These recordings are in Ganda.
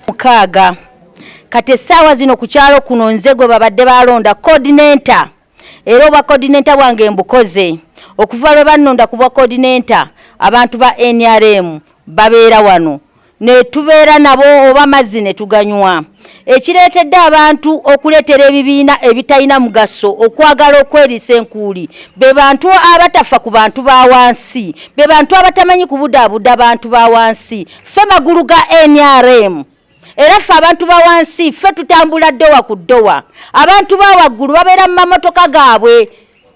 mukaaga kati essaawa zino ku kyalo kuno nze gwe babadde balonda coordinator era obwa coordinator bwange mbukoze okuva lwe bannonda ku bwa coordinator abantu ba nrm babeera wano ne tubeera nabo oba mazzi ne tuganywa ekireetedde abantu okuleetera ebibiina ebitalina mugaso okwagala okweriisa enkuuli be bantu abatafa ku bantu ba wansi be bantu abatamanyi kubudaabuda bantu ba wansi ffe magulu ga nrm era ffe abantu ba wansi ffe tutambula ddowa ku ddowa abantu ba waggulu babeera mu mamotoka gaabwe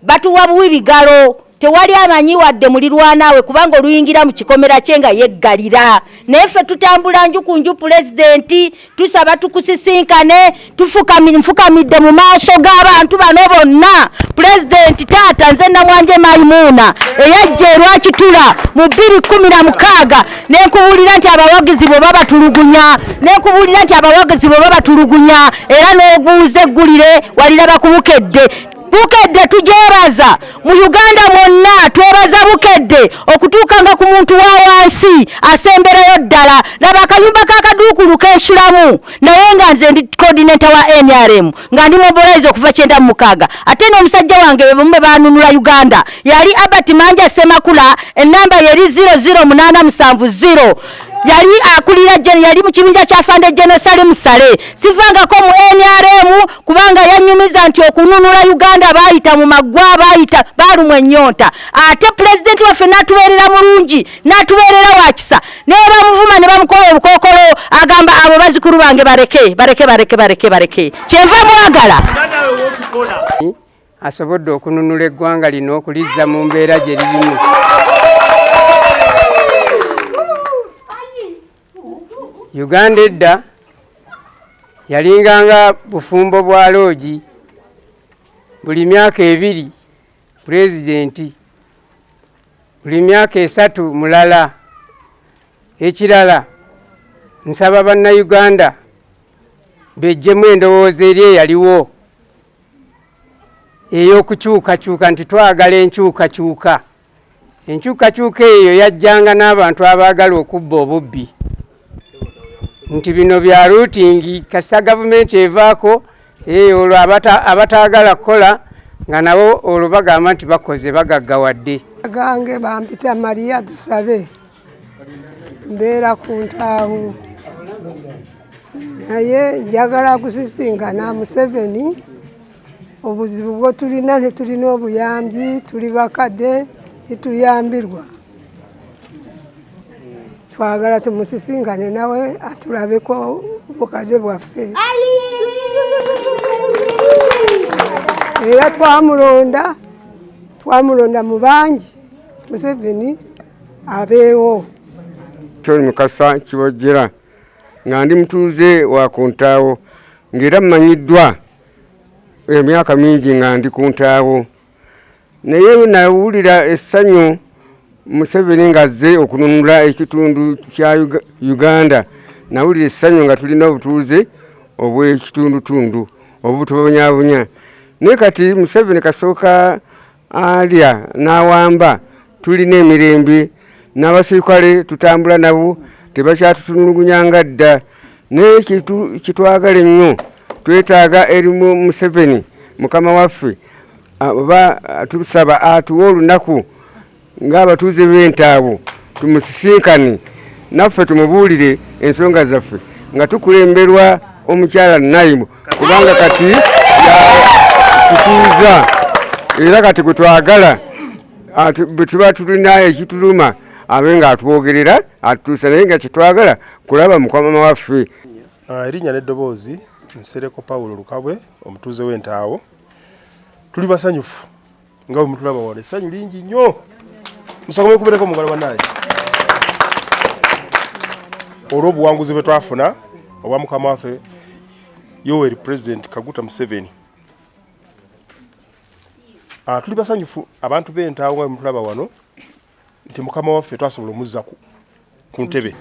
Batuwa buwi bigalo tewali amanyi wadde mulirwanaawe kubanga oluyingira mu kikomera kye nga yeggalira naye ffe tutambula nju ku nju pulezidenti tusaba tukusisinkane nfukamidde mu maaso g'abantu bano bonna pulezidenti taata nze namwanje maimuuna eyajja erwakitula mu bbiri kumi na mukaaga nenkubuulira nti abawagizi bwe babatulugunya nenkubuulira nti abawagizi bwe babatulugunya era n'oguuza eggulire waliraba kubukedde bukedde tujebaza mu uganda mwonna twebaza bukedde okutuukanga ku muntu wa wansi asemberayo ddala laba akayumba kakaduukulu kensulamu naye nga nze ndi coordinator wa nrm nga ndi mobilize okuva kyenda mu mukaaga ate n'omusajja wange bebamu be banunula uganda yali albert manja semakula enamba yeri 00870 yali akulira yali mu kibinja kya fande genosali musale sivangako mu nrm kubanga yanyumiza nti okununula uganda baayita mu maggwa baayita baalumwa ennyonta ate pulezidenti waffe n'atubeerera mulungi n'atubeerera wakisa naye bamuvuma ne bamukola obukookolo agamba abo bazikulu bange bareke bareke bareke bareke bareke kyenva mwagala asobodde okununula eggwanga lino okulizza mu mbeera gye lirimu uganda edda yalinganga bufumbo bwa loogi buli myaka ebiri pulezidenti buli myaka esatu mulala ekirala nsaba bannayuganda bejjemu endowooza eri eyaliwo ey'okukyukakyuka nti twagala enkyukakyuka Enkyukakyuka eyo yajjanga n'abantu abaagala okubba obubbi nti bino bya ruutingi kasita gavumenti evaako eh, olwo abataagala kukola nga nabo olwo bagamba nti bakoze bagaggawadde gange bampita mariya tusabe mbeera ku ntaawo naye njagala kusisinkana museveni obuzibu bwo tulina tetulina obuyambi tuli bakadde tetuyambirwa twagala tumusisinkane nawe atulabeko bukadde bwaffe era twamulonda twamulonda mu bangi museveni abeewo kyoli mukasa kibojjera nga ndi mutuuze wa ku ntaawo ng'era mmanyiddwa emyaka mingi nga ndi ku ntaawo naye nawulira essanyu museveni ng'azze okununula ekitundu kya uganda nawulira essanyu nga tulina obutuuze obw'ekitundutundu obutubonyabonya naye kati museveni kasooka alya n'awamba tulina emirembe n'abasirikale tutambula nabo tebakyatutunulugunya nga dda naye kitwagala ennyo twetaaga erimu museveni mukama waffe oba tusaba atuwe olunaku ng'abatuuze b'entaabo tumusisinkane naffe tumubuulire ensonga zaffe nga tukulemberwa omukyala nayimu kubanga kati tutuuza era kati gwe twagala bwe tuba tulina ekituluma abe nga atwogerera atutuusa naye nga kyetwagala kulaba mukwamama waffe ah, erinnya n'eddoboozi nsereko pawulo lukabwe omutuuze w'entaawo tuli basanyufu nga bwe mutulaba wano essanyu lingi nnyo musakome kubereko mugala banaye olw'obuwanguzi bwe twafuna obwa mukama waffe yoweri pulezidenti kaguta museveni ah, tuli basanyufu abantu b'entaawo nga bemutulaba wano nti mukama waffe twasobola omuzza ku ntebe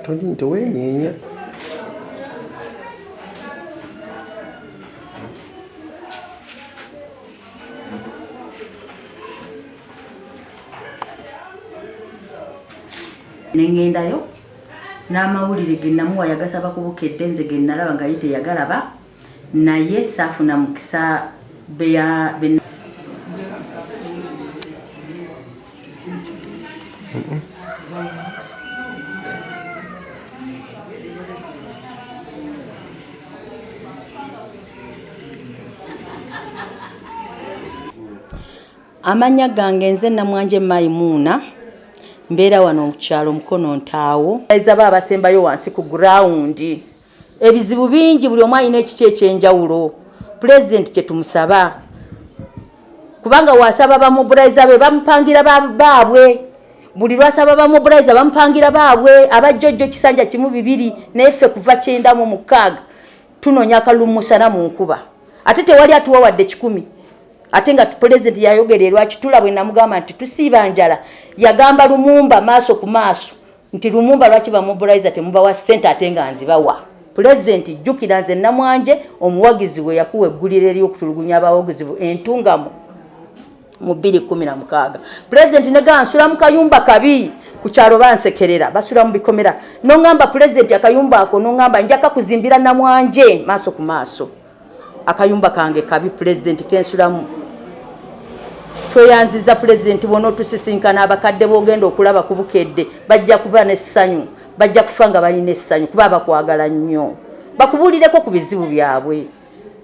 toli nti weenyeenya nengendayo n'amawulire ge namuwa yagasaba ku bukedde nze ge nalaba nga ye teyagalaba naye saafuna mukisa beya amannya gange nze namwanje maimuuna mbeera wano mukyalo mukono ntaawo ezaba abasembayo wansi ku gurawundi Ebizibu bingi buli omu alina ekikye ekyenjawulo pulezidenti kye tumusaba kubanga wasaba bamuburayiza be bamupangira baabwe buli lwasaba bamuburayiza bamupangira baabwe abajjojjo kisanja kimu bibiri naye ffe kuva kyenda mu mukaaga tunoonya akalulu musana mu nkuba ate tewali atuwa wadde kikumi ate nga pulezidenti yayogera erwakitula bwe namugamba nti tusiiba njala yagamba lumumba maaso ku maaso nti lumumba lwaki bamobiliza temubawa sente ate nga nzibawa pulezidenti jjukira nze namwanje omuwagizi we yakuwa eggulire eryokutulugunya abawagizi bu entungamu mu 216 pulezidenti negansula mu kayumba kabi ku kyalo bansekerera basula mu bikomera noŋamba pulezidenti akayumba ako noŋamba njaka kuzimbira namwanje maaso ku maaso akayumba kange kabi pulezidenti kensulamu tweyanziza pulezidenti bona otusisinkana abakadde bogenda okulaba ku bukedde bajja kuba n'essanyu bajja kufa nga balina essanyu kuba bakwagala nnyo bakubuulireko ku bizibu byabwe